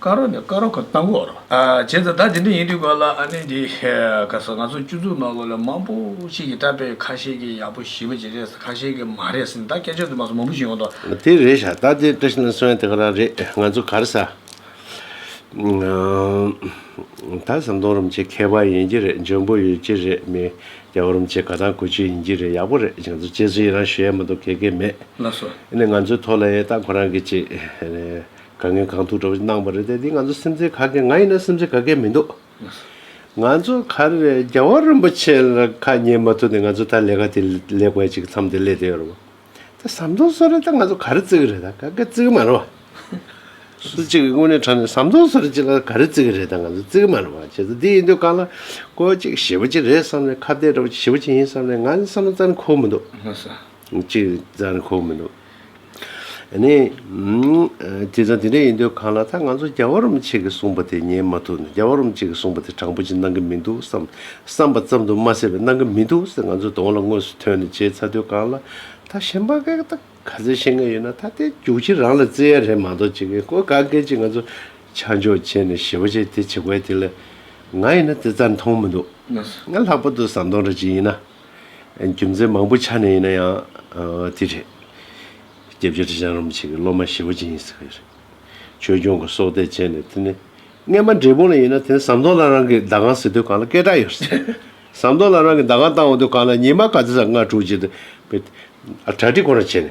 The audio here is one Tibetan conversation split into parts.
ཀ་རོ་ནི་ཀ་རོ་ཁ་སྟག་འགོ་རོ། བྱས་ཙང་ད་དེ་འདྲ་ཡིན་དུས་ག་ལ་ཨ་ནི་འདི་ག་སོང་ང་ཚོ་བཅུ་དྲུག་ནང་ལོ་ལེགས་མང་པོ་ཞིག་གིས་བཀྲ་པས་ཁ་ཤས་ཀྱིས་ཡག་པོ་ཞིབ་པོ་བྱེད་རེས་ཁ་ཤས་ཀྱིས་མ་རེས་ཟིན་ད་སྐད་ཆ་དུ་མ་སོང་མང་པོ་ཞིག་ཡོང་དོ། དེ་རེད་ཤ་སྟག་དེ་བཀྲ་ཤིས་ན་སོན་དེ་ག་རང་རེད་ང་ཚོ་གར་ས། ད་ཟམ་གདོང་རུམ་བྱེད་མཁས་པ་ཡིན་གྱི་རེད་འཇོན་པོ་ཡོད་ཀྱི་རེད་མི་རྒྱ་བོ་རུམ་བྱེད་ག་དང་གོ་ཆོད་ཡིན་གྱི་རེད་ཡག་པོ་རེད་ང་ཚོ་བཅས་ཚུལ་ཡི་རང་ཞུ་ཡ་མ་འདུག་གེ་གེ་མེད་ལ་སོ། ཨ་ནི་ང་ཚོའི་ཐོག་ལ་ཡས་སྟག་ཁོ་རང་གིས་བྱེད། ག་ངའི་གང་ཐུག་འདྲ་བོ་ཞིག་གནང་བ་རེད་དེ་འདི་ང་ཚོ་སེམས་ཚེགས་ག་གེ་ང་ཡིན་ན་སེམས་ཚེགས་ག་གེ་མི་འདུག་ང་ཚོ་ག་རེ་རེད་རྒྱལ་བ་རིན་པོ་ཆེ་ལ་ཁ་ཉན་མ་ཐུབ་ནས་ང་ཚོ་ད་ལས་ཀ་དེ་ལས་ཀ་ཅིག་མཚམས་དེ་སླེ་དེ་ཡོད་རེད་བ་ད་ཟམ་གདོང་བཟོ་རེད་ད་ང་ཚོ་ག་རེ་བརྩི་གི་རེད་ད་ག་གེ་བརྩི་གི་མ་རེད་བ། སུ་གཅིག་གི་དངོས་གནས་དྲང་ནས་ཟམ་གདོང་བཟོ་རེད་ཅིག་ལ་ག་རེ་བརྩི་གི་རེད་ད་ང་ཚོ་བརྩི་གི་མ་རེད་བ་བྱས་ཙང་འདི་ཡིན་དུས་གང་ལ་ཀོ་ཅིག་ཞེ་པོ་ཅིག་རེད་བསམ་ནས་ཁ་བརྡས་འདྲ་བོ་ཅིག་ཞེ་པོ་ཅིག་ཡིན་བསམ་ནས་ང་ནི་བསམ་བློ་རྩ་ནས་འཁོར་མི་འདུག། ཅིག་རྫ་རི་ཁོག་མི་འདུག། ནས། དེ་ཙང་དེ་འདྲ་ཡིན་དུས་གང་ལ་ད་ང་ཚོ་རྒྱ་བ་རོམ་ཆེ་གི་གསུངས་པ་དེ་ཉན་མ་ཐུབ་ན་རྒྱ་བ་རོམ་ཆེ་གི་གསུངས་པ་དེ་དྲང་པོ་ཅིག་གནང་གི་མི་འདུག་བསམ་བསམ་པ་ཙམ་དུ་མ་ཟད་པའི་གནང་གི་མི་འདུག་ཟེར་ང་ཚོའི་གདོང་ལ་དངོས་སུ་ཐོན་ནས་བྱས་ཚར་དུས་གང་ལ་ད་གཞན་པ་འགས་ད་ག་ཚད་ཤེས་ངེས་ཡོད་ན་ད་ལྟའི་རྒྱུགས་ཁྱི་རང་ལ་བརྩེ་ཡ་རེད་མ་གཏོགས་ཅི་གི་ཀོ་ག་འགས་ཅིག་ང་ཚོ་ཆ་འཇོག་བྱས་ནས་ཞེ་བ་བྱས་དེ་བྱེད་དགོས་དེ་ལས་ང་ཡིན་ན་དེ་རྩ་མཐོང་མི་འདུག་ང་ལྷག་པར་དུ་ཟམ་གདོང་འདྲ་ཅིག་ཡིན་ན། རྒྱུ་མཚན་མང་པོའི་ཆ་ནས་ཡིན་ན་ཡང་དེ་རེད། སྐྱེས་བརྒྱུད་ཁྲི་བྱང་རིན་པོ་ཆེ་གི་སློབ་མ་ཞེ་བོ་ཅན་ཡིན་ཟེར་བ་རེད། ཆོས་སྐྱོང་གི་སྲོག་གཏད་བཅད་ནས་དེ་ནས་རྔན་པ་འབྲས་སྤུངས་ལ་ཡིན་ན་དེ་ནས་ཟམ་གདོང་ལ་རང་གི་ཟླ་གང་ཟེར་དུས་གང་ལ་སྐད་གྲགས་ཡོད་ཟེར། ཟམ་གདོང་ལ་རང་གི་ཟླ་གང་བཏང་འོང་དུས་གང་ལ་ཉི་མ་ག་ཚོད་ཟ་ང་དྲུག་བྱས་དུས། གྲ་སྒྲིག་ཁོ་རང་བྱས་ནས།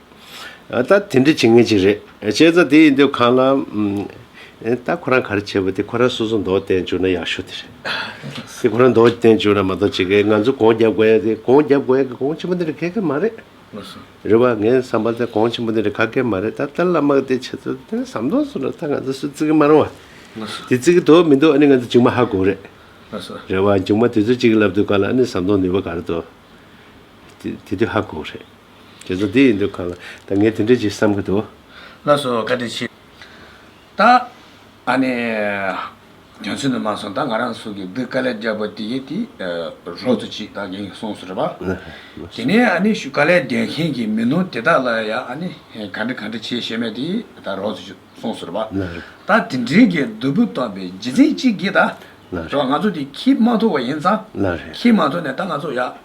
ད་དེ་འདྲ་བྱེད་ངེས་ཅིག་རེད། བྱས་ཙང་དེ་ཡི་འདོད་གང་ལ། ད་ཁོ་རང་ག་རེ་བྱེད་པ་དེ་ཁོ་རང་སོ་སོ་འདོག་བསྟན་འཇུག་ན་ཡག་ཤོས་དེ་རེད། དེ་ཁོ་རང་འདོག་བསྟན་འཇུག་ན་མ་གཏོགས་ཇི་དགའི་ང་ཚོ་གོང་རྒྱབ་དགོས་ཡ་དེ་གོང་རྒྱབ་དགོས་ཡ་གི་གོང་ཆེན་པོ་འདི་འདྲ་ག་གེ་མ་རེད། རེད་བ། ངའི་བསམ་པ་དང་གོང་ཆེན་པོ་འདི་འདྲ་ག་གེ་མ་རེད་ད་ཏར་ལ་དམག་དེ་བྱེད་ཚོད་དེ་ཟམ་གདོང་སོ་ན་ད་ང་ཚོ་སུ་བརྩི་གི་མ་རུང་བ། དེ་བརྩི་གི་དོག་མི་འདུག་ཨ་ནི་ང་ཚོ་མཇུག་མ་ཧ་གོ་རེད། རེད་བ། མཇུག་མ་དེ་ཚོ་གཅིག་གི་ལབ་དུས་ག་ལ་ཨ་ནི་ཟམ་གདོང་ནུས་པ་ག་རེ་འདུག་དེ་དུས་ཧ་གོ་རེད། དེ་ཚོ་འདི་ཡིན་འདུག་ག་ལ། ད་ངས་དེ་འདྲས་ཅིག་བསམ་གི་འདུག། ལགས་སོ་བཀའ་དྲིན་ཆེ། ད། ཨ་ནི། རྒྱ་མཚོས་ནི་མ་གསུངས་ད་ང་རང་ཚོ་གི་བུ་དཀའ་ལས་རྒྱབ་པོ་དེ་གས་དེ། རོགས་ཚོ་ཅིག་ད་གིན་གསུངས་སོ་རེད་པ། དེ་ནས་ཨ་ནི་ཞུ་དཀའ་ལས་རྒྱལ་མཁན་གི་མི་ནུ་དེ་དག་ལ་ཡ་ཨ་ནི་ག་འདྲི་ག་འདྲི་བྱས་ཤེས་མེད་དེ་ད་རོགས་ཚོ་ཅིག་གསུངས་སོ་རེད་པ། ད་དེ་འདྲའི་གི་བདུད་པོ་སྟོན་པའི་རྗེས་འཛིན་ཅིག་གིས་ད། རེད་པ་ང་ཚོ་དེ་ཁྱིས་མ་ཐོ་བ་ཡིན་ཙང། ཁྱིས་མ་ཐོ་ནས་ད་ང་ཚོ་ཡ།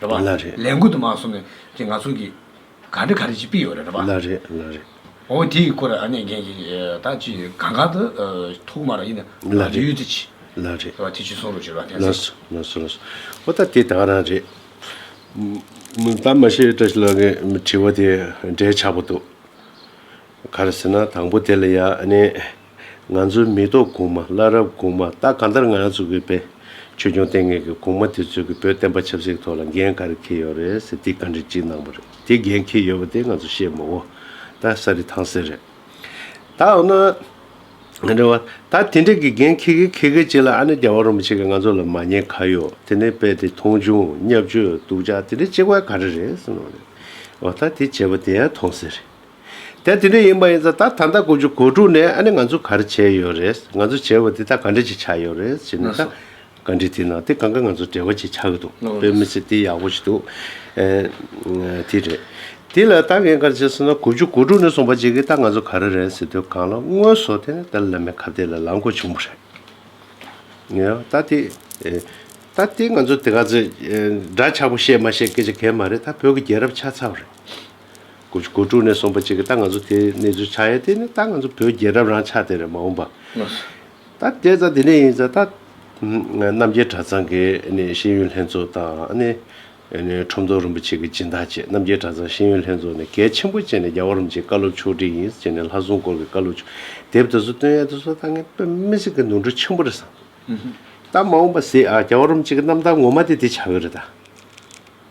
རེད་པ། ལ་རེད། ལས་འགུལ་དུ་མ་གསུམ་ནས་ཀྱི་ང་ཚོ་གི། ག་འདྲི་ག་རེ་ཅིག་སྤི་ཡོད་རེད་པ། ལ་རེད་ལ་རེད། འོ་དེ་ཡི་སྐོར་ར་ཨ་ནེ་རྒན་གྱི་ད་ཅི་གང་གང་དུ་ཐུག་མ་ར་ཡིན་ན་ལ་རེད། ཡུལ་དུ་ཅི། ལ་རེད། ཟེར་བ་དེ་ཅི་སོང་རུ་ཟེར་བ་ལ་སོ་ལ་སོ་ལ་སོ། འོ་ད་དེ་ད་ག་རང་རེད། མི་ད་མ་ཤེས་བཀྲ་ཤིས་ལགས་ཀྱི་དྲི་བ་དེ་འབྲེལ་ཆགས་པོ་འདུག། ག་རེ་ཟེར་ན་དང་པོ་དེ་ལ་ཡ་ཨ་ནེ། ང་ཚོའི་མེ་ཏོག་གོང་མ་བླ་རབས་གོང་མ་ད་གང་ལྟར་ང་ཚོ་གི་བོད་ཆོས་སྐྱོང་ལྟེ་གནས་ཀྱི་གོང་མ་དེ་ཚོས་ཀྱི་བོད་བསྟན་པ་ཆབ་སྲིད་ཐོག་ལ་འགན་ག་རེ་ཁེལ་ཡོད་རེད་ཟེར་དེ་ག་འདྲི་ཅིག་གནང་པ་རེད་དེ་འགན་ཁེལ་ཡོད་པ་དེ་ང་ཚོ་ཤེས་མོད་ད་ས་རི་ཐང་ཟེར་རེད་ད་འོ་ན་ང་འདྲི་བ་ད་དེ་འདྲ་གི་འགན་ཁེལ་གི་ཁེལ་གི་བྱེད་ལ་ཨ་ནི་རྒྱ་བ་རུ་མི་བྱེད་གི་ང་ཚོ་ལ་མ་ཉེས་ག་ཡོད་དེ་ནས་དཔེ་དེ་མཐོང་ཆུང་གཉའ་བཅོས་སྡུག་ཅག་དེ་འདྲ་བྱེད་དགོས་ག་རེ་རེད་ཟེར་ནོ་རེད་འོ་ད་དེ་བྱེད་པ་དེ་ཡ་ཐོང་ཟེར་རེད། དེ་དེ་འདྲ་ཡིན་པ་ཡིན་ཚ་ད་ད་ལྟ་དགུ་བཅུ་གོ་དྲུག་ནས་ཨ་ནི་ང་ཚོ་ག་རེ་བྱས་ཡོད་རེད་ང་ཚོ་བྱས་པ་དེ་དག་ག་འདྲ་ཅིག་ཆགས་ཡོད་རེད་ཟེར་ན་ད་ག་འདྲི་དེ་ན་དེ་གང་ག་ང་ཚོ་བྲེལ་བ་ཅིག་ཆགས་གི་འདུག་དཔེ་མི་ཚེ་དེ་ཡག་པོ་ཞིག་འདུག་དེ་རེད། དེ་ལ་ད་ངས་ག་རེ་བྱས་ཟེར་ན་དགུ་བཅུ་གོ་དྲུག་ནས་བཟུང་བར་བྱས་ཀི་ད་ང་ཚོ་ག་རེ་རེད་ཟེར་དུས་གང་ལ་དངོས་བཟོ་དེ་ནི་ད་བླ་མའི་ཁ་བརྡའི་ལ་ལང་དགོས་བྱུང་བ་རེད། ད་དེ་ད་དེ་ང་ཚོ་དེ་ག་ཚོད་འདྲ་ཆགས་པ་བཤད་མ་བཤད་སྐད་ཆ་གལ་མ་རེད་ད་བོད་ཀྱི་རྒྱལ་རབས་ཆགས་ཚར་བ་རེད། དགུ་དགུ་དྲུག་ནས་གསུམ་པ་གཅིག་གི་ད་ང་ཚོ་དེ་གནས་ཚུལ་ཆགས་ཡས་དེ་ནི་ད་ང་ཚོ་བོད་རྒྱལ་རབས་རང་ཆགས་དེ་རེད་མ་འོངས་པ། ད་དེ་ད་དེ་ནས་ཡིན་ཚ་ད། རྣམ་རྒྱལ་གྲྭ་ཚང་གི་ནི་ཤེས་ཡོན་ལྷན་ཚོགས་དང་ནི། ཁྲོམ་ཐོ་རིན་པོ་ཆེ་གི་སྦྱིན་བདག་བཅས་རྣམ་རྒྱལ་གྲྭ་ཚང་ཤེས་ཡོན་ལྷན་ཚོགས་ནི་གལ་ཆེན་པོ་བཅས་ནི་རྒྱ་གོ་རིམ་བཅས་བཀའ་སློབ་ཕྱོགས་བསྒྲིགས་ཡིན་བཅས་ནི་ལྷ་སྲུང་སྐོར་གི་བཀའ་སློབ་ཕྱོགས་དེབ་དེ་ཚོ་བཏོན་ཡས་དེ་ཚོ་ད་ངས་བཏོན་མི་སྲིད་གི་ནོར་འཁྲུལ་ཆེན་པོ་རེད་བསམ། ད་མ་འོངས་པ་སྲིད་ཨ་རྒྱ་གོ་རིམ་བཅས་ཀི་རྣམ་ཐར་ངོ་མ་དེ་དེ་ཆགས་ཡོད་རེད་ད།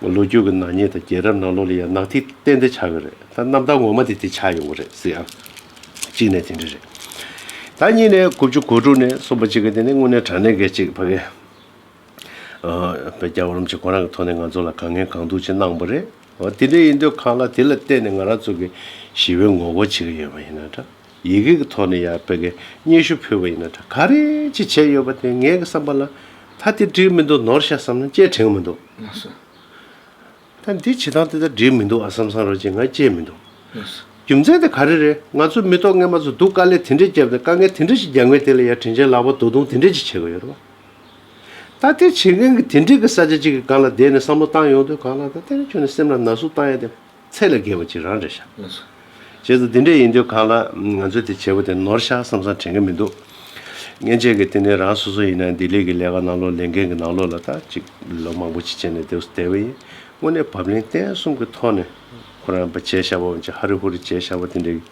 ལོ་རྒྱུས་ཀྱི་ནག་ཉེས་དང་རྒྱལ་རབས་ནང་ལོ་ལ་ཡང་ནག་ཐིག་གཏན་འདེད་ཆགས་ཀྱི་རེད་ད་གནམ་བདག་ངོ་མ་དེ་དེ་ཆགས་ཡོང་གི་རེད་ཟེར་ཡང་གཅིག་ནས་དེ་འདྲ་རེད་ད་གཉིས་ནས་དགུ་བཅུ་གོ་དྲུག་ནས་གསུམ་པ་གཅིག་གི་དེ་ནས་དངོས་གནས་དྲང་གནས་འགས་ཅིག་ཕ་གི་བའི་རྒྱ་བོར་རམ་ཅིག་ཁོ་རང་གི་ཐོག་ནས་ང་ཚོ་ལ་གང་ངན་གང་སྡུག་ཅིག་གནང་པ་རེད་འོ་དེ་འདྲ་ཡིན་དུས་གང་ལ་དེ་ལ་བལྟས་ནས་ང་རང་ཚོ་གི་ཞི་བའི་ངོ་རྒོལ་བྱེད་ཀྱི་ཡོད་པ་ཡིན་ན་འདྲ། ཡི་གེ་གི་ཐོག་ནས་ཡང་བོད་ཀྱི་སྙན་ཞུ་ཕུལ་བ་ཡིན་ན་འདྲ་ག་རེ་ཅིག་བྱས་ཡོད་པ་དེ་ངའི་བསམ་པ་ལ་ད་དེ་བྲིས་མི་འདུག་ནོར་ཤ་བསམ་ན་བཅད་དྲན་གི་མི་འདུག་མ་གསུངས། ད་འདི་བྱེད་སྟངས་དེ་ལྟར་བྲིས་མི་འདུག་ཨ་བསམ་བསམ་རོགས་ཅེས་ང་བཅད་མི་འདུག་མ་གསུངས། རྒྱུ་མཚན་དེ་ག་རེ་རེད་ང་ཚོ་མི་ཐོག་ངན་པ་ཚོ་སྡུག་དཀའ་ལས་དེ་འདྲས་བརྒྱབ་ནས་དཀའ་ངལ་དེ་འདྲ་ཞིག་རྒྱག་མཁན་དེ་ལ་ཡང་དྲིན་ཆེན་ལག་པ་དོ་བརྡུང་དེ་འདྲས་ཅིག་བྱེད་དགོས་ཡོད་རེད་པ། ད་དེ་བྱེད་མཁན་གྱི་དེ་འདྲས་ཀྱི་ས་ཆ་ཅིག་གི་སྒང་ལ་བསྡད་ནས་བསམ་བློ་བཏང་ཡོང་དུས་གང་ལ་ད་དེ་འདྲ་བྱུང་ནས་སེམས་ལ་ན་ཟུག་བཏང་ཡ་དེ། ཚད་ལ་བརྒལ་བ་ཅིག་རང་འདྲ་ཤག། རྗེས་སུ་འདི་འདྲས་ཡིན་དུས་གང་ལགས་ང་ཚོས་དེ་བྱས་པ་དེ་ནོར་ཤག་བསམ་བསམ་དྲན་གི་མི་འདུག། མཉེན་ཆས་ཀྱི་དེ་ནི་རང་སོ་སོ་ཡིན་ན་འདི་ལས་ཀྱི་ལས་ཀ་ནང་ལོག་ལས་འགན་གྱི་ནང་ལོག་ལ་ད་ཅིག་ལོ་མང་པོ་ཅིག་བྱས་ནས་དེ་བསུ་བསྡད་པ་ཡིན་དངོས་གནས་བབ་ལན་བརྟན་གསུམ་གྱི་ཐོག་ནས་ཁོ་རང་བྱས་ཤག་བབ་བྱས་ཧ་རི་ཧུ་རི་བྱས་ཤག་བ་དེ་འདྲས་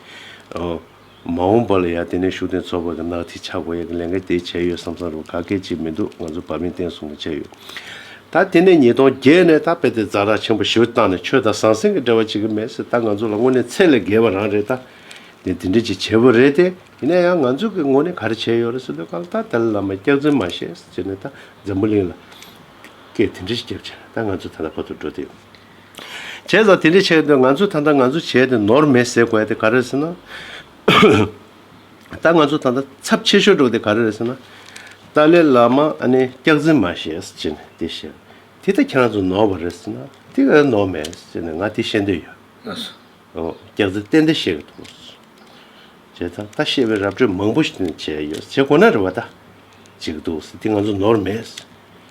ཀྱི། མ་འོངས་པ་ལ་ཡང་དེ་ནས་ཤུགས་ལྡན་ཚོགས་པ་གི་ནག་ཐིག་ཆགས་དགོས་ཡ་གི་ལས་འགན་དེ་བྱས་ཡོད་བསམ་བསམ་རུང་ག་གལ་ཅིག་མི་འདུག་ང་ཚོ་བ་མིན་བསྟན་སྲུང་གི་བྱས་ཡོད། ད་དེ་ནས་ཉིས་སྟོང་བརྒྱད་ནས་ད་དཔེ་དེ་རྫ་རག་ཆེན་པོ་ཞིག་བཏང་ནས་ཆོས་དང་ཟང་ཟིང་གི་འབྲེལ་བ་བྱེད་གི་མེད་ཟེར་ད་ང་ཚོ་ལ་དངོས་གནས་ཚད་ལས་བརྒལ་བ་རང་རེད་ད། དེ་དེ་འདྲས་ཅིག་བྱས་བོ་རེད་དེ་ཡིན་ན་ཡང་ང་ཚོས་གི་དངོས་གནས་ག་རེ་བྱས་ཡོད་རེད་ཟེར་དུས་གང་ལྟར་དེ་ལ་ལ་མ་སྐྱག་རྫུན་མ་བཤད་ཟེར་ནས་ད་འཛམ་བུ་གླིང་ལ་སྐད་དེ་འདྲས་ཤིག་བརྒྱབ་བྱས་ན་ད་ང་ཚོ་ད་ལྟ་བར་དུ་འགྲོ་དེ། བྱས་ཙང་དེ་འདྲས་བྱས་ཏེ་ང་ཚོས་ད་ལྟ་ང་ཚོ་བྱས་ཏེ་ནོར་མེད་ཟེར་དགོས་དེ་ག་རེད་ཟེར་ན། ད་ང་ཚོ་ད་ལྟ་ཚབས་ཆེ་ཤོས་འགྲོ་དེ་ག་རེ་རེད་ཟེར་ན། ཏཱ་ལའི་བླ་མ་ཨ་ནེ་སྐྱག་རྫུན་མ་བཤད་ཅེས་ནས་དེ་བཤད། དེ་ལྟ་ཁྱེད་རང་ཚོ་ནོར་བ་རེད་ཟེར་ན། དེ་ག་རེ་ནོར་མེད་ཟེར་ནས་ང་དེ་བཤད་འདོད་ཡོད། སྐྱག་རྫུན་ཏན་ཏན་བཤད་གི་འདུག་བྱས་ཙང་ད་བཤད་པའི་ར་སྤྲོད་མང་པོ་བྱས་ཡོད་བྱས་དགོས་ན་རེད་བ་ད་བྱེད་ཀྱི་འདུག་དེ་ང་ཚོ་ནོར་མེད།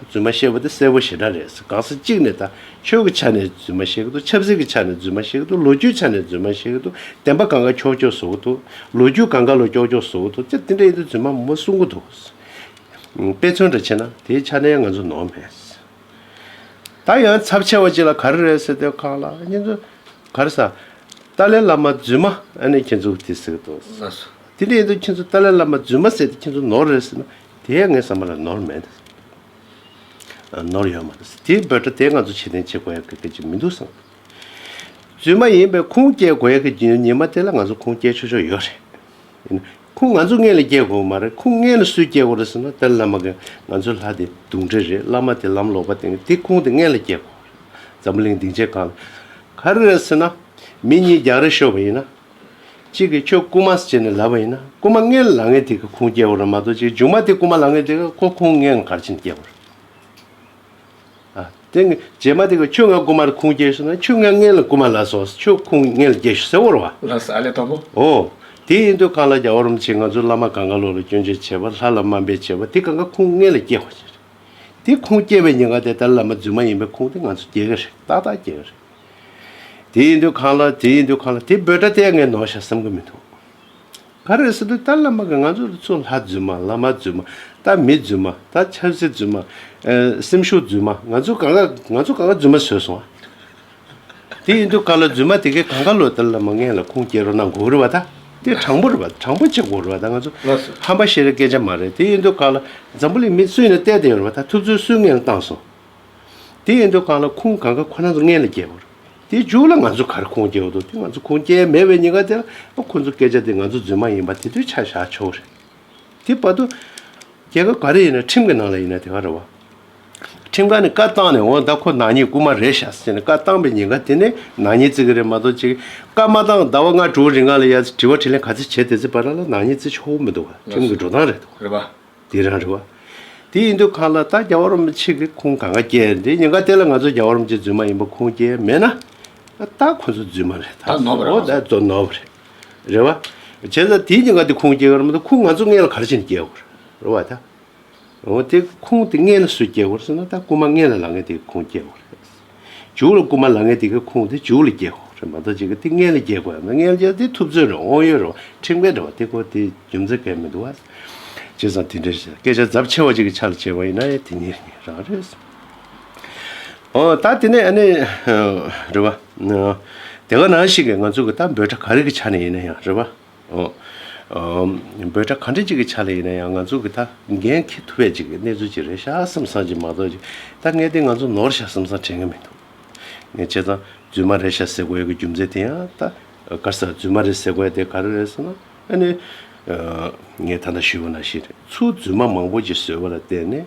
རྫུན་མ་བཤད་པ་དེ་གསལ་པོ་ཞེ་དྲག་རེད་གང་ས་གཅིག་ནས་ད་ཆོས་ཀྱི་ཆ་ནས་རྫུན་མ་བཤད་གི་འདུག་ཆབ་སྲིད་ཀྱི་ཆ་ནས་རྫུན་མ་བཤད་གི་འདུག་ལོ་རྒྱུས་ཆ་ནས་རྫུན་མ་བཤད་གི་འདུག་བདེན་པ་གང་ག་ཁྱོག་ཁྱོག་བཟོ་གི་འདུག་ལོ་རྒྱུས་གང་ག་ལོ་ཀྱོག་ཀྱོག་བཟོ་གི་འདུག་ཅི་འདི་འདྲ་ཡིན་དུས་རྫུན་མ་མ་གསུང་གི་འདུག་དཔེ་མཚོན་འདྲ་བྱེད་ན་དེའི་ཆ་ནས་ང་ཚོ་ནོར་མེད། ད་ཡང་ཚབས་ཆེ་བ་ཅིག་ལ་ག་རེ་རེད་ཟེར་དུས་ཁག་ལ་ཁྱེད་ཚོ་ག་རེ་ཟ། ཏཱ་ལའི་བླ་མ་རྫུན་མ་ཨ་ནེ་ཁྱེད་ཚོ་དེ་ཟེར་གི་འདུག་དེ་འདྲ་ཡིན་དུས་ཁྱེད་ཚོ་ཏཱ་ལའི་བླ་མ་རྫུན་མ་ཟེར་ཏེ་ཁྱེད་ཚོ་ནོར་རེད་ཟེར་ན། དེ་ཡང་ངས་བསམ་པ་ལ་ནོར་མེད། ནོར་ཡོད་མ་རེད། དེའི་འབོད་སྒྲ་དེ་ང་ཚོ་ཕྱིར་འཐེན་བྱེད་དགོས་ཡག་གི་སྐད་ཅིག་མི་འདུག་བསམ། རྫུན་མ་ཡིན་པའི་ཁུངས་སྐྱེལ་དགོས་ཡག་གི་རྒྱུ་ཉིན་མ་དེ་ལ་ང་ཚོ་ཁུངས་སྐྱེལ་ཆོག་ཆོག་ཡོད་རེད། ཡིན་ན། ཁུངས་ང་ཚོ་ངེད་ལ་སྐྱེལ་དགོས་མ་རེད་ཁུངས་ངེད་ལ་སུས་སྐྱེལ་དགོས་རེད་ཟེར་ན་དེར་བླ་མ་གིས་ང་ཚོའི་ལྷ་དེ་དུག་འདྲེ་རེད་བླ་མ་དེ་ལམ་ལོག་པ་དེང་དེ་ཁུངས་དེ་ངེད་ལ་སྐྱེལ་དགོས་རེད་འཛམ་བུ་གླིང་སྡིངས་ཆའི་སྒང་ལ། ག་རེ་རེད་ཟེར་ན། མི་གཉིས་རྒྱག་རེས་ཤོར་བ་ཡིན་ན། གཅིག་གིས་ཁྱོད་རྐུན་མ་བྱས་ནས་ལབ་པ་ཡིན་ན་རྐུན་མ་ལྔའི་ལག་ངན་དེ་གིས་ཁུངས་སྐྱེལ་བར་མ་གཏོགས་ཅིག་རྒྱུགས་མ་དེ་རྐུན་མ་ལག་ངན་དེ་གིས་ཁོ་ཁུངས་ངན་གར་ཕྱིན་སྐྱེལ་བར། ཨ། དེ་ནི་རྗེས་མ་དེ་གིས་ཁྱོད་ང་རྐུན་མར་ཁུངས་སྐྱེལ་ཞུ་ན་ཁྱོད་ང་ངན་ལ་རྐུན་མ་ལ་སོགས་ཁྱོད་ཁུངས་ངན་ལ་སྐྱེལ་ཞུ་ཟེར་བར་བ། ལགས་སོ་ཨ་ལས་དང་པོ། ཨོ། དེ་ཡིན་དུས་གང་ལ་རྒྱ་བ་རུམ་བྱེད་ང་ཚོའི་བླ་མ་གངྒཱ་ལོ་ལ་སྐྱོན་བརྗོད་བྱེད་པ་ལྷ་ལ་དམའ་འབེབས་བྱེད་པ་དེ་གང་ག་ཁུངས་ངན་ལ་སྐྱེལ་བ་ཞིག་རེད། དེ་ཁུངས་སྐྱེལ་བའི་ཉེན་ཁ་དེ་ལྟར་བླ་མ་རྫུན་མ་ཡིན་པའི་ཁུངས་དེ་ང་ཚོ་སྐྱེལ་གི་རེད་ཏག་ཏག་སྐྱེལ་གི་རེད། དེ་ཡིན་དུས་གང་ལ་དེ་ཡིན་དུས་གང་ལ་དེ་འབོད་སྒྲ་དེ་ངས་ནོར་བྱ་བསམ་གྱི་མི་འདུག་ག་རེ་ཟེར་དུས་ད་བླ་མ་གི་ང་ཚོ་རི་ཚོ་ལྷ་རྫུན་མ་བླ་མ་རྫུན་མ་ད་མི་རྫུན་མ་ད་ཆབ་སྲིད་རྫུན་མ་སེམས་ཤུགས་རྫུན་མ་ང་ཚོ་གང་ག་ང་ཚོ་གང་ག་རྫུན་མ་བཟོས་སོང་ཨ། དེ་ཡིན་དུས་གང་ལ་རྫུན་མ་དེ་གས་གང་ག་ལོ་ད་བླ་མ་མངལ་ལ་ཁུངས་སྐྱེལ་རོགས་གནང་དགོས་རེད་བ་ད་དེ་དྲང་པོ་རེད་བ་དྲང་པོ་བྱེད་དགོས་རེད་བ་ད་ང་ཚོ་ཧམ་པ་བཤད་རེ་སྐད་ཆ་མ་རེད་དེ་ཡིན་དུས་གང་ལ་འཛམ་བུ་ལི་མི་སུས་ནས་བལྟས་བལྟས་ཡོད་རེད་བ་ད་ཐུབ་ཚོད་སུས་ངན་ལ་བཏང་སོང། དེ་ཡིན་དུས་གང་ལ་ཁུངས་གང་ག་ཁོ་ན་ཚོ་མངལ་ལ་སྐྱེས་པར། དེ་མཇུག་ལ་ང་ཚོས་གར་ཁུངས་སྐྱེ་བ་དང་དེ་ང་ཚོ་ཁུངས་སྐྱེལ་མེད་པའི་ཉེན་ཁ་དེ་ལ་ཁོ་ཚོ་སྐད་ཆ་དེ་ང་ཚོ་རྫུན་མ་ཡིན་པ་དེ་དུས་ཆ་བཞག་ཆོག་རེད། དེ་བར་དུ། རྒྱལ་ཁབ་ག་རེ་ཡིན་ན་ཁྲིམས་ཀྱི་ནང་ལ་ཡིན་ན་དེ་ག་རེ་བ། ཁྲིམས་ཁ་ནས་བཀའ་བཏང་ནས་འོ་ད་ཁོ་ནག་ཉེས་རྐུ་མ་རེད་ཤག་ཟེར་ནས་བཀའ་བཏང་པའི་ཉེན་ཁ་དེ་ནས་ནག་ཉེས་བརྩི་གི་རེད་མ་གཏོགས་ཅིག་བཀའ་མ་བཏང་ཟླ་བ་ལྔ་དྲུག་རིང་ག་ལ་ཡ་ཚེ་དྲི་བ་དྲིས་ལན་ག་ཚེ་བྱས་དེ་ཚེ་བར་ལ་ལ་ནག་ཉེས་བརྩི་ཆོག་མི་འདུག་བ་ཁྲིམས་ཀྱི་འགྲོ་སྟངས་རེད་འདུག། འདི་རང་རེད་བ། དེ་ཡིན་དུས་ཁ་ལ་ད་རྒྱ་བ་རོམ་པ་ཆིག་གི་ཁུངས་ག་འགའ་སྐྱེས་འདི་ཉེན་ཁ་དེ་ལ་ང་ཚོ་རྒྱ་བ་རོམ་གྱི་རྫུན་མ་ཡིན་པ་ཁུངས་སྐྱེས་མེད་ན། ད་ཁོ་ཚོ་རྫུན་མ་རེད་ད་ཟེར་བ་འོ་ད་རྫོ་ནོར་བ་རེད། རེད་བ། བྱས་ཙང་དེའི་ཉེན་ཁ་དེ་ཁུངས་སྐྱེས་ག་རེ་མ་ཏོག་ཁུངས་ང་ཚོ་ལྔས་ལ་ག་རེ་བྱས་ནས་སྐྱེས་དགོས་རེད་རེད་བ། ད་འོ་དེ་ཁུངས་དེ་ལྔས་ལ་སུས་སྐྱེས་དགོས་རེད་ཟེར་ན་ད་རྐུ་མ་ལྔས་ལ་ལ་ངས་དེ་ཁུངས་སྐྱེས་དགོས་རེད། འཇུག་ལ་རྐུ་མ་ལ་ངན་དེ་གའི་ཁུངས་དེ་འཇུག་ལ་རྒྱས་ཁོ་རེ་མ་ཏོག་ཅིག་གི་དེ་ངན་ལ་རྒྱས་ཁོ་ཡང་ན་ངན་ལ་རྒྱས་དེ་ཐུབ་ཚོད་རེ་འོང་ཡོད་རུང་ཁྲིམས་འགལ་འདྲ་བ་དེ་ཁོ་དེ་རྒྱུ་མཚན་གལ་མི་འདུག་བ། བྱས་ཙང་དེ་འདྲའི་རེད་སྐད་ཆ་རྫབ་ཆེ་བ་ཅིག་གི་ཆ་ལ་བྱས་པ་ཡིན་ན་ཡང་དེ་ཉིད་རེད་ངེས་རང་རེད། ཨོ་ད་དེ་ནས་ཨ་ནི། རེད་བ། དེ་ག་ནང་ཞིག་གི་ང་ཚོ་གི་ད་འབོད་སྒྲ་ག་རེ་གི་ཆ་ནས་ཡིན་ན་ཡང་རེད་བ། འབོད་སྒྲ་གང་འདྲ་ཅིག་གི་ཆ་ལ་ཡིན་ན་ཡང་ང་ཚོ་གི་ད་འགན་འཁྱེར་ཐུབ་པའི་ཅིག་གི་གནས་ཚུལ་ཅིག་རེད་ཤག་བསམ་བསམ་ཅིག་མ་གཏོགས་ཅིག་ད་ངས་དེ་ང་ཚོ་ནོར་ཤག་བསམ་བསམ་བྱེད་མཁན་མི་འདུག་ངས་བྱས་ཙང་རྫུན་མ་རེད་ཤག་ཟེར་དགོས་ཡོད་གི་རྒྱུ་མཚན་དེ་ཡང་ད་ག་ཟེ་རྫུན་མ་རེད་ཟེར་དགོས་ཡ་དེ་ག་རེ་རེད་ཟེར་ན་ཨ་ནི་ངས་ད་ལྟ་ཞུས་པ་ན་ཞིག་རེད་ཚུལ་རྫུན་མ་མང་པོ་ཅིག་བཟོས་པ་ལ་བརྟེན་ནས།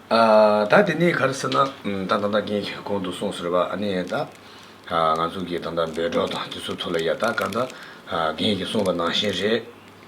ད་དེ་ནས་ག་རེ་ཟེར་ན་ད་ད་ལྟ་ངས་གོང་དུ་གསུངས་ཟེར་བ་ཨ་ནི་ད་ང་ཚོ་གིས་ད་ལྟ་འབད་སྒྲོག་དང་དེ་ཚོའི་ཐོག་ལ་ཡ་ད་ག་ད་རྒན་གྱིས་གསུངས་པ་ནང་བཞིན་རེད།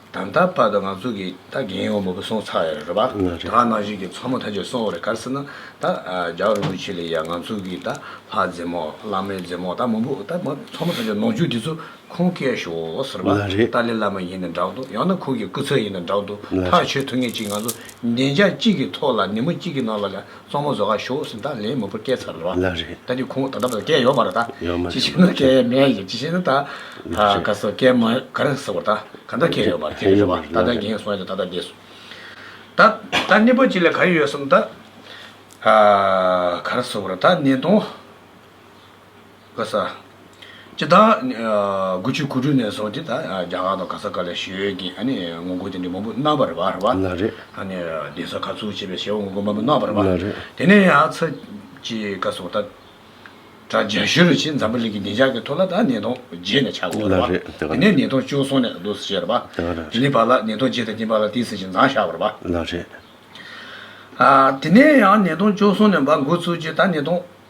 ད་ད་བར་དུ་ང་ཚོ་གིས་ད་རྒན་ཡོང་མོ་པོ་སོང་ཚར་ཡ་རེད་པ། ད་ནང་བཞིན་གྱི་མཚོ་མོ་ད་ཆོད་སོང་བ་རེད་ག་རེ་ཟེར་ན་ད་རྒྱ་རིན་པོ་ཆེ་ལ་ཡ་ང་ཚོ་གིས་ད་ལྷ་རྫི་མོ་བླ་མའི་རྫི་མོ་ད་མོ་པོ་ད་མཚོ་མོ་ད་ཆོད་ནོར་འཁྱུག་དེ་ཚོ་ཁོང་སྐལ་ཞོག་ཟེར་བ། ཏཱ་ལའི་བླ་མ་ཡིན་ན་འདྲག་འདུག་ཡང་ན་ཁོང་གི་སྐུ་ཚབ་ཡིན་ན་འདྲག་འདུག་ཐག་ཆོད་ཐུབ་ངེས་ཅིག་ང་ཚོ་བདེ་འཇགས་གཅིག་གི་ཐོག་ལ་ནི་མོ་གཅིག་གི་ནང་ལ་ལས་གཙང་མོ་བཟོ་ག་ཞོག་ཟིན་ད་ལན་མོ་པོ་སྐད་ཚར་ལོ། ལ་རེད། ད་ནི་ཁོང་ད་ལྟ་བར་སྐད་ཡོད་མ་རེད་ད། ཡོད་མ་རེད། ཅི་ཞིག་ན་སྐད་མེད་ཡིན་ཅི་ཞིག་ན་ད། ལ་རེད། ག་སོ་སྐད་མ་ག་རེ་ཟེར་བ་ད་ག་འདྲ་སྐད་ཡོད་མ་རེད་ཁྱེད་ཀྱི་རེད་བ་ད་ད་འགྱིང་སོང་ཡོད་ད་ད་འགྱིང་སོང། ད་ད་ནི་པོ་གཅིག་ལ་ག་རེ་ཡོད་སམ་ད། ག་རེ་ཟེར་བ་རེད་ད་ནི་དོང། ག་ས། སྤྱི་བདག། དགུ་ཆུ་གུ་རུ་ནས་བཟུང་སྟེ་ད་རྒྱ་གར་དང་ག་ས་ག་ལ་ཞོལ་གྱི་ཨ་ནི་ངོ་རྒོལ་དེ་འདྲའི་མང་པོ་གནང་བར་བར་བ། ལ་རེད། ཨ་ནི་གདན་ས་ཁག་ཚུགས་བྱས་པའི་ཞལ་འོང་ངོ་རྒོལ་མང་པོ་གནང་བར་བར་བ། ལ་རེད། དེ་ནས་ཡང་ཚ། ཀྱི་ཀ་སོགས་ད། དྲ་རྒྱ་ཞུ་རུ་ཕྱིན་འཛམ་བུ་གླིང་གི་བདེ་འཇགས་ཀྱི་ཐོག་ལ་ད་ནད་ཐོག་རྗེས་ནས་ཆགས་དགོས་བར་བ། ལ་རེད། དེ་ནས་ནད་ཐོག་བཅུག་སོང་ནས་བསྡུ་ཟེར་བ། ལ་རེད། དེ་ནས་བར་ལ་ནད་ཐོག་རྗེས་ད་ཀྱིན་བར་ལ་ཏིས་ཟེར་ཞིང་མཛངས་བཞག་བར་བ། ལ་རེད། དེ་ནས་ཡང་ནད་ཐོག་བཅུག་སོང་ནས་བར་འགོ་ཚུགས་རྗེས་ད་ནད་ཐོག།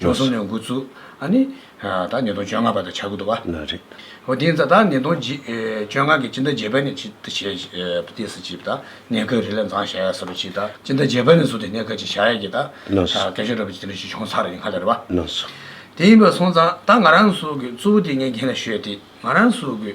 ཅུང་སོང་ནས་འགོ་བཙུགས། ཨ་ནི། ད་ཉིས་སྟོང་བཅོ་ལྔ་པ་དང་ཆ་དགུ་འདུག་བ། ན་རེ། ཨོ་དེ་ད་ཉིས་སྟོང་བཅོ་ལྔ་གི་སྤྱི་ཟླ་བརྒྱད་པ་ནས་ཅི་ད་བྱས་ཏེ་ས་ཅི་ད་གནས་སྐབས་རི་ལ་མཛངས་བཞག་ཡ་ས་རུ་ཅི་ད་སྤྱི་ཟླ་བརྒྱད་པ་ནས་བཟུང་སྟེ་གནས་སྐབས་ཅི་བཞག་ཡ་གི་ད་སྐད་ཆ་ར་བ་ཅི་ད་ལས་ཅི་བྱུང་ཚར་ཡིན་ཁ་ལེ་ར་བ། ན་སོ། དེ་ཡིན་པ་སོང་ཙང་ད་ང་རང་སུ་གི་གཙོ་བོ་དེ་ངས་འགན་ལ་བཞོས་ཏེ་ང་རང་སུ་གི།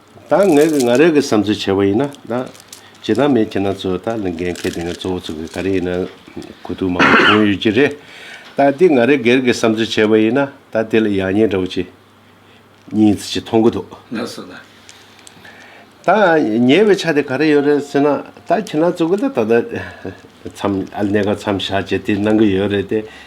ད་ངས་ཀྱི་ང་རེ་གི་བསམ་ཚུལ་བྱས་པ་ཡིན་ན་ད། བྱེད་སྟངས་མེད་ཁྱེད་རང་ཚོས་ད་ལིང་གན་གད་དེ་ངས་གཙོ་བོ་ཚུགས་ཀྱི་ག་རེ་ཡིན་ན། གོ་ཐུག་མང་པོ་བྱུང་ཡོད་ཀྱི་རེད། ད་དེ་ང་རེ་སྒེར་གྱི་བསམ་ཚུལ་བྱས་པ་ཡིན་ན་ད་དེ་ལ་ཡག་ཉེས་འདྲ་བོ་ཅི། གཉིས་ཚིག་གཅིག་མཐོང་གི་འདུག། ན་སོ་ན། ད་ཉེས་པའི་ཆ་དེ་ག་རེ་ཡོད་རེད་ཟེར་ན་ད་ཁྱེད་རང་ཚོ་གི་ད་ད་ད། མཚམས་ཨ་ལི་གནས་སྐབས་མཚམས་བཞག་བྱས་དེ་གནང་གི་ཡོད་རེད་དེ།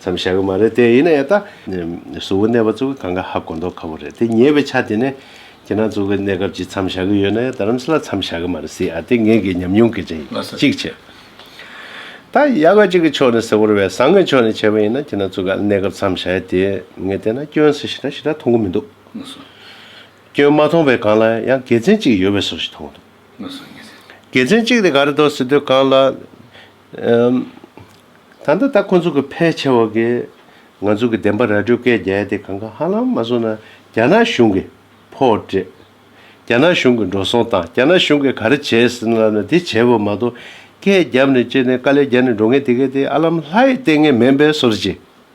མཚམས་བཞག་གི་མ་རེད་དེ་ཡིན་ན་ཡང་ད། གཟུ་བོ་གནས་པ་ཚོ་གི་གང་ག་ཧ་གོ་མདོག་ཁ་བོ་རེད་དེ་ཉེ་བའི་ཆ་དེ་ནས། ཁྱེད་རང་ཚོ་གི་གནས་སྐབས་ཀྱི་མཚམས་བཞག་གི་ཡོད་ན་ཡང་ད་རམ་ས་ལ་མཚམས་བཞག་གི་མ་རེད་སྲིད་ཨ་དེ་ངེད་ཀྱི་ཉམས་མྱོང་གི་རིང་གཅིག་བྱས། ད་ཡག་ག་ཅིག་གི་ཕྱོགས་ནས་ཟེར་བོར་བས་བཟང་གི་ཕྱོགས་ནས་བྱས་པ་ཡིན་ན་ཁྱེད་རང་ཚོ་གི་གནས་སྐབས་མཚམས་བཞག་ཡ་དེ་ངས་བལྟས་ན་སྐྱོན་སུ་ཞིག་དང་ཞིག་ད་མཐོང་གི་མི་འདུག། སྐྱོན་མ་མཐོང་བའི་གང་ལ་ཡང་དགེ་མཚན་གཅིག་ཡོད་པའི་སོ་ཞིག་མཐོང་གི་འདུག། དགེ་མཚན་གཅིག་དེ་ག་རེ་དོ་ཟེར་དུས་གང་ལ། ད་ལྟ་ད་ཁོ་ཚོ་གི་ཕལ་ཆེ་བ་གིས་ང་ཚོ་གི་བདེན་པ་ར་སྤྲོད་སྐད་རྒྱལ་ཏེ་གང་གང་ཧ་ལམ་མ་བཟོ་ན་རྒྱ་ནག་གཞུང་གི་ཕོ་བྲེད། རྒྱ་ནག་གཞུང་གི་འགྲོ་སོང་དང་རྒྱ་ནག་གཞུང་གི་ག་རེ་བྱས་ཟིན་ལབ་ན་དེ་བྱས་པ་མ་གཏོགས་སྐད་རྒྱབ་ནས་བཅད་ནས་དཀའ་ལས་རྒྱག་ནས་འགྲོ་ངེས་དེ་གས་དེ་ཨ་ལམ་ལྷ་ཡི་ལྟས་ངན་མེན་པའི་སོར་བྱེད།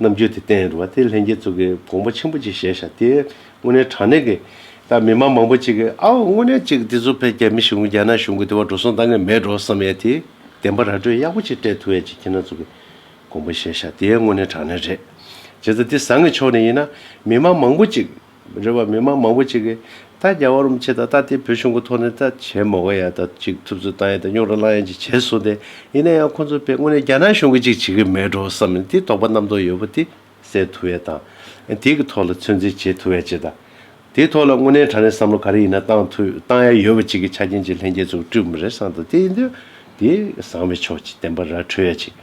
རྣམ་དཔྱོད་དེ་བསྟན་ཡོད་པ་དེ་ལྷན་རྒྱས་ཚོགས་ཀྱི་དགོངས་པ་ཆེན་པོ་ཅིག་བཞེས་བཞག་སྟེ། དངོས་གནས་དྲང་གནས་ཀྱི། ད་མི་མང་མང་པོ་ཅིག་གིས་ཨའོ་དངོས་གནས་ཅིག་འདི་ཚོ་ཕལ་རྒྱ་མི་ཞིག་གུང་རྒྱ་ནག་གཞུང་གི་དེ་བ་འགྲོ་སོང་ད་ངས་མེད་འགྲོ་བསམ་ཡས་དེ། བདེན་པ་ར་སྤྲོད་ཡག་པོ་ཅིག་སྤྲད་ཐུབ་ཡས་ཅིག་ཁྱེད་རྣམས་ཚོགས་ཀྱི། དགོངས་པ་བཞེས་བཞག་དེ་དངོས་གནས་དྲང་གནས་རེད། བྱས་ཙང་འདི་བཟང་གི་ཕྱོགས་ནས་ཡིན་ན། མི་མང་མང་པོ་ཅིག། རེ་བ་མི་དམངས་མང་པོ་ཅིག་གིས་ད་རྒྱ་བ་རུམ་ཆེ་དང་ད་ལྟའི་བོད་གཞུང་གི་ཐོག་ནས་ད་བྱེད་མོ་ག་ཡ་ད་ཅིག་ཐུབ་ཚོད་བཏང་ཡ་ད་རྙོག་ར་བསླང་ཡ་ཅིག་བྱེད་སོང་སྟེ་ཡིན་ན་ཡང་ཁོ་ཚོ་པས་དངོས་གནས་རྒྱ་ནག་གཞུང་གི་ཅིག་བྱེད་གི་མེད་འགྲོ་བསམ་ནས་དེ་དོགས་པ་རྣམ་རྟོག་ཡོད་པོ་དེ་སེལ་ཐུབ་ཡ་དང། དེ་གི་ཐོག་ལ་ཚོད་འཛིན་བྱེད་ཐུབ་ཡ་ཅིག་དང། དེ་ཐོག་ལ་དངོས་གནས་དྲང་གནས་བསམ་བློ་ག་རེ་ཡིན་ན་བཏང་ཐུབ་བཏང་ཡ་ཡོད་པོ་ཅིག་གི་ཆ་རྐྱེན་ཅིག་ལྷན་རྒྱས་ཚོགས་བསྐྲུན་མི་རེ་བསམ་དང་དེ་ཡིན་དུས་དེ་བཟང་བའི་ཕྱོགས་ཅིག་བསྟན་པ་ར་འཕྲོད་ཡ་ཅིག་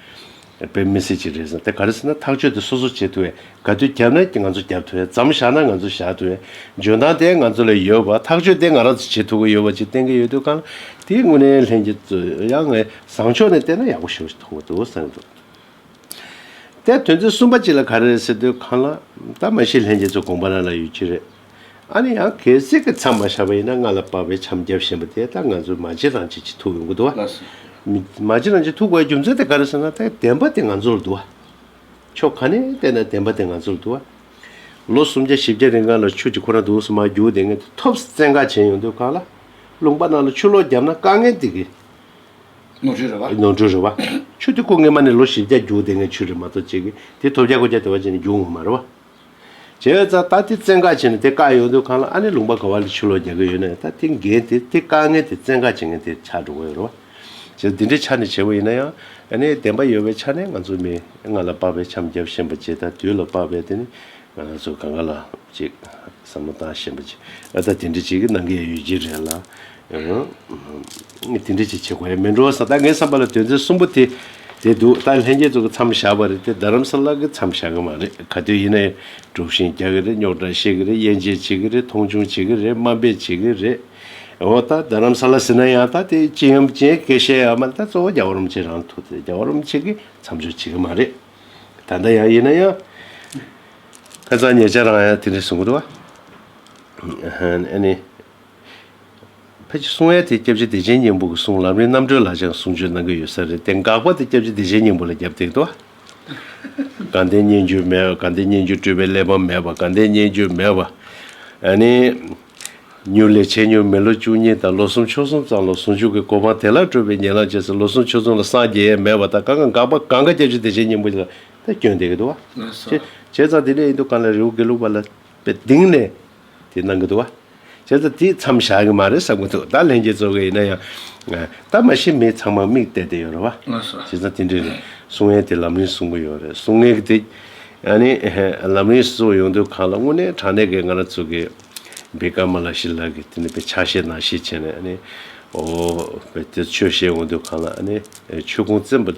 དཔེ་མི་སྲིད་ཅིག་རེད་བསམ་དེ་ག་རེ་ཟེར་ན་ཐག་གཅོད་དེ་སོ་སོ་བྱེད་ཐུབ་བས་ག་དུས་བརྒྱབ་ན་ང་ཚོ་བརྒྱབ་ཐུབ་བས་ཛམ་བཞག་ན་ང་ཚོ་བཞག་ཐུབ་བས་འཇོན་ཐང་དེ་ང་ཚོ་ལ་ཡོད་པ་ཐག་གཅོད་དེ་ང་རང་ཚོ་བྱེད་ཐུབ་ཀྱི་ཡོད་པ་ཅིག་གཏན་འཁེལ་ཡོད་དུས་གང་དེའི་དངོས་གནས་ལྷན་རྒྱས་གཙོས་ཡང་ངས་བཟང་ཕྱོགས་ནས་བལྟས་ན་ཡག་པོ་ཞིག་མཐོང་གི་འདུག་བསམ་གྱི་འདུག་དེ་དོན་ཚན་གསུམ་པ་གཅིག་ལ་ག་རེ་རེད་ཟེར་དུས་གང་ལ་ད་མ་ཤེས་ལྷན་རྒྱས་ཚོའི་དགོངས་པ་རང་ལ་ཡོད་ཀྱི་རེད། ཨ་ནི་ཡང་གལ་སྲིད་ཀྱི་མཚམས་མ་བཞག་པ་ཡིན་ན་ང་ལ་དཔག་པའི་འཆམ་རྒྱབ་བཞིན་པ་དེ་ད་ང་ཚོའི་མ་གཅིག་རང་གཅིག་གཅིག་ཐུག་ཡོང་གི་འདུག་བ། མ་གཅིག་རང་གཅིག་ཐུག་པའི་རྒྱུ་མཚན་དེ་ག་རེ་ཟེར་ན་ད་བདེན་པ་དེ་ང་ཚོ་ལ་འདུག་བ། ཕྱོགས་ག་ནས་བལྟས་ན་བདེན་པ་དེ་ང་ཚོ་ལ་འདུག་བ། ལོ་སུམ་བརྒྱ་བཞི་བརྒྱ་རིང་གངས་ལ་ཆུ་གཅིག་ཁོ་རང་དུ་འོངས་སུ་མ་རྒྱུག་བདེན་ངེས་དེ་ཐོབ་བཙན་བཀའ་བྱེད་ཡོང་དུས་གངས་ལ་ལུང་པ་རྣམས་ལ་ཆུ་ལོག་བརྒྱབ་ན་དཀའ་ངལ་འདི་གི། ནོར་འཁྲུལ་རེད་བ། ནོར་འཁྲུལ་རེད་བ། ཆུ་དེ་ཁོ་ངེས་མ་ནས་ལོ་བཞི་བརྒྱ་རྒྱུག་བདེན་ངེས་ཆུ་རེད་མ་གཏོགས་ཅིག་གིས་དེ་ཐོབ་བརྒྱ་དགུ་བརྒྱ་དེ་བ་ཅིག་ནས་རྒྱུག་ངོ་མ་རེད་བ། བྱས་ཙང་ད་དེ་བཙན་བཀག་བྱས་ནས་དེ་བཀག་ཡོང་དུས་གང་ལ་ཨ་ནེ་ལུང་པ་ག་བ་ལས་ཆུ་ལོག་རྒྱག་གི་ཡོད་ནས་ད་དེ་འགན་དེ་དེ་བཀག་མཁན་དེ་བཙན་བཀག་བྱེད་མཁན་དེ་ཆགས་འགྲོ་གི་ཡོད་རེད་བ། བྱས་ཙང་འདི་འདྲའི་ཆ་ནས་བྱས་པ་ཡིན་ན་ཡང་ཨ་ནེའི་བདེན་པ་ཡོད་པའི་ཆ་ནས་ང་ཚོ་མི་ལྔ་ལ་དཔག་པའི་འཆམ་རྒྱབ་བཞིན་པ་བྱས་ད་དུས་ལ་དཔག་པའི་དེ་ནི་ང་ཚོ་ག་འགའ་ལ་ཅིག་བསམ་བློ་བཏང་བཞིན་པ་བྱས་ཨ་ད་དེ་འདྲ་བྱེད་ཀྱི་གནང་གི་ཡོད་ཀྱི་རེད་ལ། དེ་འདྲའི་ཅིག་བྱེད་དགོས་མིན་འགྲོ་བ་ས་ད་ངའི་བསམ་པ་ལ་དོན་ཚན་གསུམ་པོ་དེ་དེ་འདུག་ད་ལྷན་རྒྱས་ཚོགས་ཀྱི་མཚམས་བཞག་པ་རེད་དེ་རྡ་རམ་ས་ལ་གི་མཚམས་བཞག་གི་མ་རེད་ག་དུས་ཡིན་ན་ཡང་དཀྲུགས་ཤིང་རྒྱག་གི་རེད་རྙོག་དྲ་བཤད་གི་རེད་དབྱེ་འབྱེད་བྱེད་གི་རེད་མཐོང་ཆུང་བྱེད་གི་རེད་དམའ་འབེབས་བྱེད་གི་རེད། འོ་ད་རྡ་རམ་ས་ལ་ཟིན་ན་ཡང་ད་དེ་ཅི་ཡིན་ཅི་ཡིན་གེ་ཤེས་ཡ་མ་རེད་ད་གཙོ་བོ་རྒྱ་བ་རོམ་ཆེན་རང་ཐུག་དེ་རྒྱ་བ་རོམ་ཆེན་གི་མཚམས་སྦྱོར་བྱེད་གི་མ་རེད། ད་ལྟ་ཡང་ཡིན་ན་ཡང། ཁ་སང་ཉེ་ཆར་རང་ཡང་དེ་འདྲས་གསུང་གི་འདུག་བ། ཨ་ཧན་ཨ་ནི། ཕལ་ཆེར་གསུང་ཡ་དེ་སྐྱབས་རྗེ་བདེ་ཆེན་སྙིང་པོ་གི་གསུང་ལམ་རིང་རྣམ་གྲོལ་ལ་སྦྱངས་གསུང་ཆོས་གནང་གི་ཡོད་ས་རེད་དེ་འགག་པ་དེ་སྐྱབས་རྗེ་བདེ་ཆེན་སྙིང་པོ་ལ་རྒྱབ་སྟེགས་དུ་དགའ་ལྡན་སྙན་བརྒྱུད་མེད་དགའ་ལྡན་སྙན་བརྒྱུད་སྤྲུལ་པའི་གླེགས་བམ་མེད་པ་དགའ་ལྡན་སྙན་བརྒྱུད་མེད་པ་ཨ་ནི། མྱུར་ལས་བྱེད་མྱུར་མེད་ལོ་བཅུ་གཉིས་དང་ལོ་གསུམ་ཕྱོགས་གསུམ་ཙམ་ལ་ཟུང་འཇུག་གི་གོ་འཕང་དེ་ལགས་སྤྲོད་པའི་ཉེ་ལམ་བྱས་ཚེ་ལོ་གསུམ་ཕྱོགས་ཙུམ་ལ་སངས་རྒྱས་ཡས་མས་པ་དང་གང་ག་འགག་པ་གང་ག་སྐྱབས་རྗེ་བདེ་ཆེན་སྙིང་པོ་ལ་ད་སྐྱོན་བསྡད་གི་འདུག་བ། བྱས་ཙང་དེ་འདྲ་ཡིན་དུ་གང་ལ་རི་བོ་དགེ་ལུགས་པ་ལ་པད་གདིང་ནས། དེ་གནང་གི་འདུག་བ། བྱས་ཙང་དེ་མཚམས་བཞག་གི་མ་རེད་བསམ་གི་འདུག་ད་ལན་རྗེས་རྫོགས་གི་ཡིན་ན་ཡང། སྟབས་མ་ཤེས་མི་ཚང་མ་མིག་བལྟས་བསྡད་ཡོད་རེད་བ། བྱས་ཙང་དེ་འདྲའི་རེད། གསུང་ངན་དེ་ལམ་རིང་གསུང་གི་ཡོད་རེད་གསུང་ངན་གི་དེ། ཡང་ནི། ལམ་རིང་གསུང་ཡོང་དུས་གང་ལ་དངོས་གནས་དྲང་གནས་ཀྱི་ང་རང་ཚོ་གི། བའི་སྐར་མ་ལ་ཞིག་ལབ་གི་དེ་ནི་བའི་ཕྱག་བཞེས་ནང་བཞེས་བྱས་ནས་ཡང་ནི། འོ། བའི་དེ་ཆོས་བཤད་འོང་དུས་གང་ལ་ཡང་ནི། ཆོས་ཁུངས་བཙན་པོ།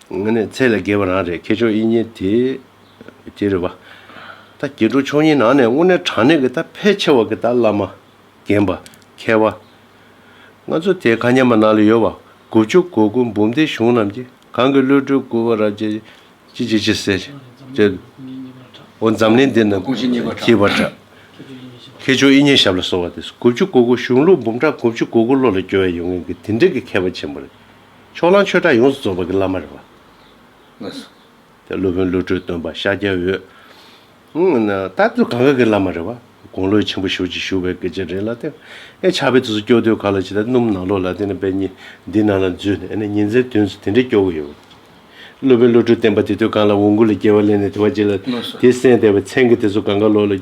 ངེད་ནི་ཚད་ལས་བརྒལ་བ་རང་རེད་ཁྱེད་ཆོས་དབྱིངས་ཉིད་དེ། དེ་རེད་བ། ད་སྐྱེ་འགྲོ་ཆོས་ཉིད་ནང་ནས་དངོས་གནས་དྲང་གནས་ཀྱི་ད་ཕལ་ཆེ་བ་ཀྱི་ད་བླ་མ། རྒན་པ། མཁས་བ། ང་ཚོ་དེ་ག་མཉམ་པ་ནང་ལ་ཡོད་བ། དགུ་བཅུ་གོ་དགུ་འབུམ་སྡེའི་གཞུང་རྣམས་ཀྱི་གང་གི་གློད་གྲོལ་སྐུར་བ་རབ་རྒྱས་ཀྱི་ཅི་བྱེད་ཅི་ཟེར་བྱེད། འོ་འཛམ་གླིང་འདི་ན་དགུ་བཅུ་གཉིས་པ་གྲགས། ཁྱེད་ཆོས་དབྱིངས་ཉིད་ཞབས་ལ་གསོལ་བ་དེ་དགུ་བཅུ་གོ་དགུ་གཞུང་ལུགས་འབུམ་ཕྲག་དགུ་བཅུ་གོ་དགུ་བློ་ལ་སྐྱོ་བས་ཡོང་ངེས་ཀྱི་དེ་འདྲའི་ཀྱི་མཁས་པ་ཆེན་པོ་རེད་ཕྱོགས་གླང་ཆོས་གྲགས་ཡོངས་སུ་རྫོགས་པ་གི་བླ་མ་རེད་བ། སློབ་དཔོན་བློ་གྲོས་སྟོན་པ་ཤཱཀྱ་འོད། རྟ་བདུད་གངྒཱ་གི་བླ་མ་རེད་བ། དགུང་ལོའི་ཆེན་པོ་ཞོལ་གྱི་ཞུ་བའི་སྐད་ཆ་རེད་ལ་དེ། ཨེ་ཆགས་པའི་དུས་སུ་སྐྱོ་དུས་ག་ལ་ཇི་ལྟར་སྣུམ་ནག་ལོ་ལ་དེ་ནི་བེ་སྙི་འདི་ནང་ལ་འཛུལ་ནས་ཨེ་ཉིན་མཚན་དུས་སུ་དེ་འདྲའི་སྐྱོ་གི་ཡོད་བ། སློབ་དཔོན་བློ་གྲོས་བསྟན་པ་དེ་དུས་གང་ལ་འོང་གུ་ལ་སྐྱེ་བ་གླེང་ནས་དེ་བ་ཅི་ལ་དེ་གསན་བསྡད་བའི་མཚན་གི་དེ་ཚོ་གངྒཱ་ལོ་ལ།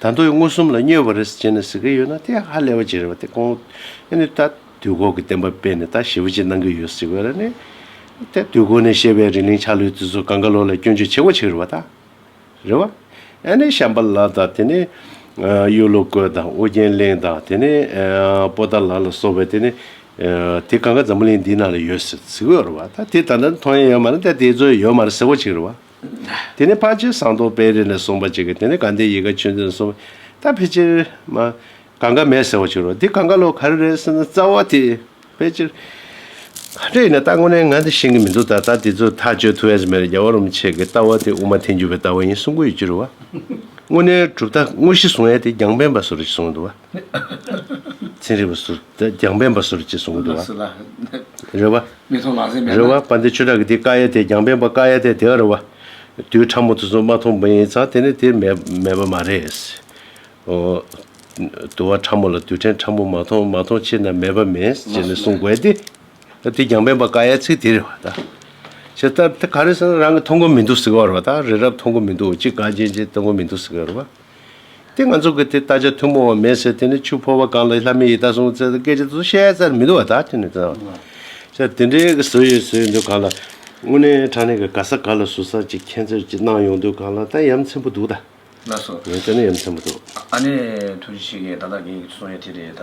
ད་མདོ་ཡི་མངོན་སུམ་ལ་སྨྱོས་པ་རེད་ཟེར་ནས་ཟེར་གི་ཡོད་ན་དེ་ཧ་ལས་པ་ཅིག་རེད་བ་དེ་ཁོང་ཨེ་ནི་ད་དུས་འཁོར་གྱི་བསྟན་པ་སྤེལ་ནས་ད་ཞི་བ་ཅིག་གནང་གི་ཡོད་ཟེར་བས་ར་ནི། དེ་དུས་འཁོར་ནས་བཤད་པའི་རི་གླིང་ཆགས་ལུས་དེ་ཚོ་གངས་དཀར་ལོ་ལ་སྐྱོན་བརྗོད་བྱེད་དགོས་ཆིག་རེད་བ་ད། རེད་བ། ཨེ་ནི་བྱམས་པ་ལགས་དང་དེ་ནི། གཡུ་ལོ་རྐོས་དང་ཨོ་རྒྱན་གླིང་དང་དེ་ནི། པོ་ཏཱ་ལགས་ལ་སོགས་པའི་དེ་ནི། དེ་གང་ག་འཛམ་བུ་གླིང་འདིའི་ནང་ལ་ཡོད་ཟེར་གི་ཡོད་རེད་བ་ད་དེ་ད་ལྟ་མཐོང་ཡས་ཡོད་མ་རེད་ད་དེ་ཚོ་ཡོད་མ་རེད་ཟེར་དགོས་ཆིག་རེད་བ། དེ་ནས་དཔལ་ཆེན་ཟངས་མདོག་དཔལ་རི་ནས་གསུངས་པ་ཅིག་གིས་དེ་ནས་དགའ་ལྡན་ཡིད་དགའ་ཆོས་འཛིན་གསུངས་པས་ད་ཕལ་ཆེར། མ། གང་ག་མེད་ཟེར་བ་ཅིག་རོ་འདི་གང་ག་ལོ་ག་རེ་རེད་ཟེར་ན་རྩ་བ་དེ། ཕལ་ཆེར། ག་འདྲ་ཡིན་ན་ད་དངོས་གནས་ང་འདི་ཤེས་ཀྱི་མི་འདུག་ད་ད་དེ་ཚོ་ཐག་གཅོད་ཐུབ་ཨེས་མེད་རེད་རྒྱ་བ་རུམ་ཆེ་གི་ལྟ་བ་དེ་དབུ་མ་ཐལ་འགྱུར་བའི་ལྟ་བ་ཡིན་གསུངས་གོ་ཡི་ཅི་རུ་བ། དངོས་གནས་གྲུབ་མཐའ་དངོས་གཞི་གསུངས་ཡས་དེ་རྒྱང་པན་པ་སུ་རུ་ཅིག་གསུངས་འདུག་བ། ཚན་རིག་པ་ཟུར། རྒྱང་པན་པ་ཟུར་ཅེས་གསུང་གི་འདུག་བ། རེ་བ། རེ་བ། པ་འདི་ཆོས་གྲགས་ཀྱི་འདི་ཀ་ཡ་དེ་རྒྱང་པན་པ་ཀ་ཡ་དེ་དེའོ་རེ་བ། དུས་ཕྲ་མོ་དུ་སོང་མ་མཐོང་པ་ཡིན་ཙང་དེ་ནི་དེ་མེད་པ་མ་རེད། ཨོ། དུ་བ་ཕྲ་མོ་ལ་དུས་ཕྲན་ཕྲ་མོ་མ་མཐོང་མ་མཐོང་ཕྱིར་ན་མེད་པ་མིན་ཅེས་ནི་གསུང་དགོས་ཏེ། དེ་རྒྱང་པན་པ་ཀ་ཡའི་ཚིག་དེ་རེད་བ་དང། ཞེས་སྟབས་དེ་ག་རེ་ཟེར་ན་རང་གི་མཐོང་གོ་མི་འདུག་ཟེར་གི་བ་རེད་བ་དང་རི་རབ་མཐོང་གོ་མི་འདུག་ཅི་དགའ་ཅན་ཅི་མཐོང་གོ་མི་འདུག་ཟེར་གི་བ་རེད་བ། དེ་ང་ཚོ་གི་དེ་ད་ཆ་ཐུན་མོང་བ་མེད་ཟེར་དེ་ནི་ཆུ་ཕོར་བ་གང་ལ་ལྷ་མིའི་ཡི་དྭགས་སྲུང་ཟེར་སྐད་ཆ་དེ་ཚོ་བཤད་ཚར་མི་འདུག་བ་ད་དེ་ནི་དེ་ད་དེ་འདྲའི་གི་བཟོ་ཡོད་བཟོ་ཡོད་འདུག་གང་ལ་དངོས་གནས་དྲང་གནས་གི་ག་ས་ག་ལ་ཟུར་ཟ་ཅིག་ཁྱེད་ཚོས་ཅིག་གནང་ཡོང་དུས་གང་ལ་ད་ཡ་མཚན་པོ་འདུག་ད། ལགས་སོ། ཡ་ད་ནི་ཡ་མཚན་པོ་འདུག། ཨ་ནེ་ཐུགས་རྗེ་ཆེ་གི་ད་ད་གེ་གི་ཚོ་ཡ་དེ་རེད་ད།